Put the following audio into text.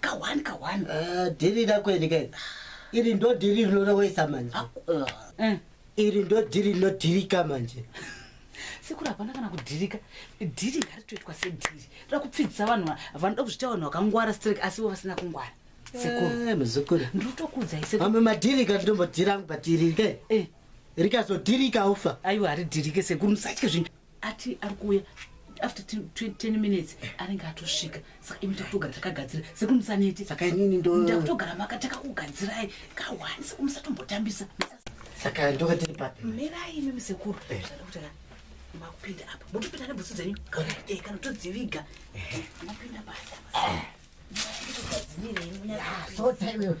kawani kawani ah, dhiri rakweni ke iri ndo dhiri rinorowesa manje ah, ah. Eh. iri ndo dhiri rinodhirika manje sekuru hapana kana kudhirika dhiri ngaritoitwa sedhiri toda kupfidzisa vanhu vanoda kuzviita vanhu vakangwara strek asi vo vasina kungwara sekurumuzukuru eh, ndinotokuudzai se amwe madhirika ndinombodhira angu patirike eh. rikazodhirika ufa aiwa haridhirike sekuru musatye zvinhu ati ari kuuya after 10 minutes anenge atosvika saka imi takutogara takagadzira sekuru musaneti saka inini ndo ndakutogara maka takakugadzirai kawani sekuru musatombotambisa saka ndoka tiri papi mirai imi musekuru eh. zvadakutaka makupinda apa motopinda nebhutsu dzenyu eh, kana todziviga eh. mopinda basa ah. sota iwewe